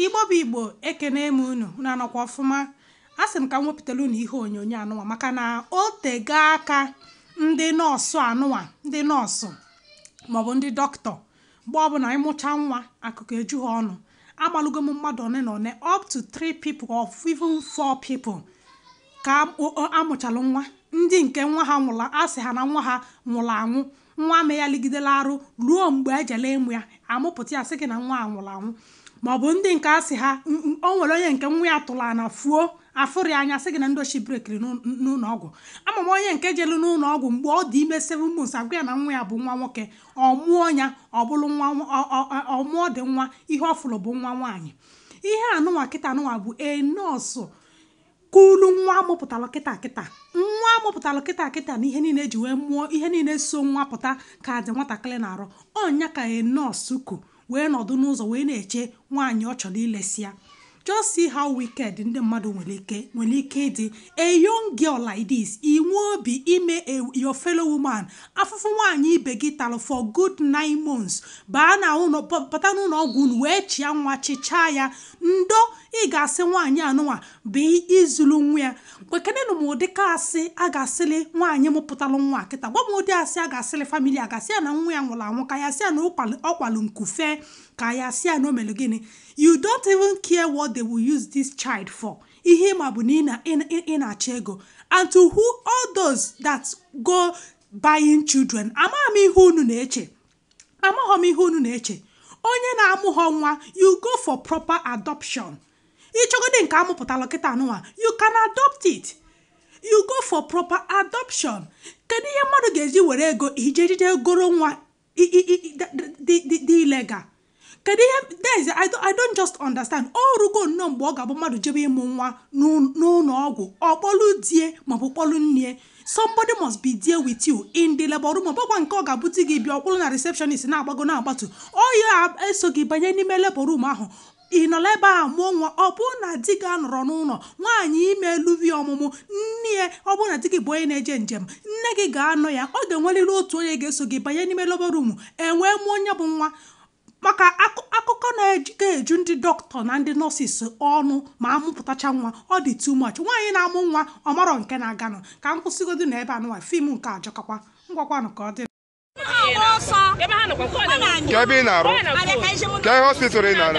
Igbo bụ Igbo ekene m unu unu anọkwa ọfụma a sị m ka m wepụtara unu ihe onyonyo anụnwa maka na o tego aka ndị nọọsụ anụnwa ndị nọọsụ maọbụ ndị doctor mgbe ọbụla ịmụcha nwa akụkọ eju ha ọnụ amalụgo m mmadụ one on one up to three people or even four people ka amụchalụ nwa ndị nke nwa ha nwụla a sị ha na nwa ha nwụrụ anwụ Nwa a meghalịgidere arụ ruo mgbe e jere ịmụ ya, a mụpụta ya sị gị na nwa a nwụrụ anwụ. Ma ọ bụ ndị nke a sị ha, "M- m- o nwere onye nke nwa ya tụrụ ana fuo, afụrọ ya anya sị gị na ndị oshi brekiri n'ụ- n'ụlọ ọgwụ. Ama m onye nke jere n'ụlọ ọgwụ mgbe ọ dị ime seven months agwa ya na nwa ya bụ nwa nwoke, ọ mụọ ya ọ bụrụ nwa nwa- ọ- ọ- ọ- ọ mụọdị nwa ihe ọ fụrụ bụ nwa nwaanyị. Ihe anụnwa kịta anụnwa bụ a nọọsụ Kulu nwa amụpụtalụ kịta kịta nwa amụpụtalụ kịta kịta na ihe niile eji wee mụọ ihe niile so nwa pụta ka dị nwatakịrị n'arụ ọ nya ka a nọọsụ ku wee nọdụ n'ụzọ wee na-eche nwaanyị ọ chọrọ ilesị ya just see how wicked ndị mmadụ nwere ike nwere ike ịdị a young girl like this i nwee obi ime your fellow woman afụfụ nwaanyị ibe gị talụ for good nine months baa na ụlọ pụta n'ụlọ ọgwụ unu wee chịa nwa chịchaa ya ndo ị ga-asị nwaanyị anụnwa bụ izulu nwa ya gwakenenụ m ụdị ka asị a ga-asịlị nwaanyị mụpụtalụ nwa kịta gwa m ụdị asị a ga-asịlị famili a ga-asị ya na nwa ya nwụrụ anwụ ka a ya-asị ya na ọ kwalụ nku fe ka a ya-asị ya na o mere gịnị you don't even care what they will use this child for ihe ị ma bụ na ị na-achọ ego and to all those that go buying children amaghị m ihe unu na-eche amaghị m ihe unu na-eche onye na-amụhọ nwa you go for proper adoption ị chọgodi nke amụpụtalụ kịta anụnwa you can adopt it you go for proper adoption kedu ihe mmadụ ga-eji were ego ijejide goro nwa dị illegal kedu ihe guys I don't, I don't just understand o rugo nnọọ mgbe ọ ga-abụ mmadụ jebe ịmụ nwa n'ụlọ ọgwụ ọ kpọlụ di e maọbụ kpọlụ nne somebody must be there with you in the labor room ọ bụkwa nke ọ ga-abụ di gị bịa ọ kwụrụ na receptionist na-agbago na-agbatu ọ ya-eso gị banye n'ime labor room ahụ ị nọlụ ebe a mụọ nwa ọ bụrụ na di gị anọrọ n'ụlọ nwaanyị ime eluvi ọmụmụ nne ya ọ bụrụ na di gị bụ onye na-eje njem nne gị ga-anọ ya ọ ga-enwerịrị otu onye ga-eso gị banye n'ime labor room e wee mụọ nya bụ nwa maka akụkọ na-ejike eju ndị doctor na ndị nurses ọnụ ma amụpụtacha nwa ọ dị too much nwaanyị na-amụ nwa ọ marọ nke na-aganụ ka m kwụsịgodu na ebe anụwa film nke a jọkakwa ngwakwanụ ka ọ dị Kee ebe ị na-arụ? Kee hospital ị na-arụ?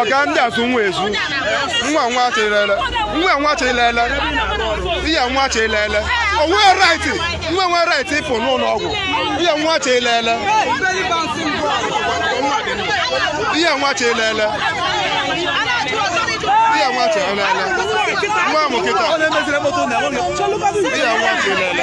ọga ndị asụ nwa ezu nwa nwa chịlele nwa nwa chịlele iya nwa chịlele onwe raịtị nwa nwa raịtị ịpụ n'ụlọ ọgwụ iya nwa chịlele iya nwa chịlele iya nwa chịlele nwa amụ kịta iya nwa chịlele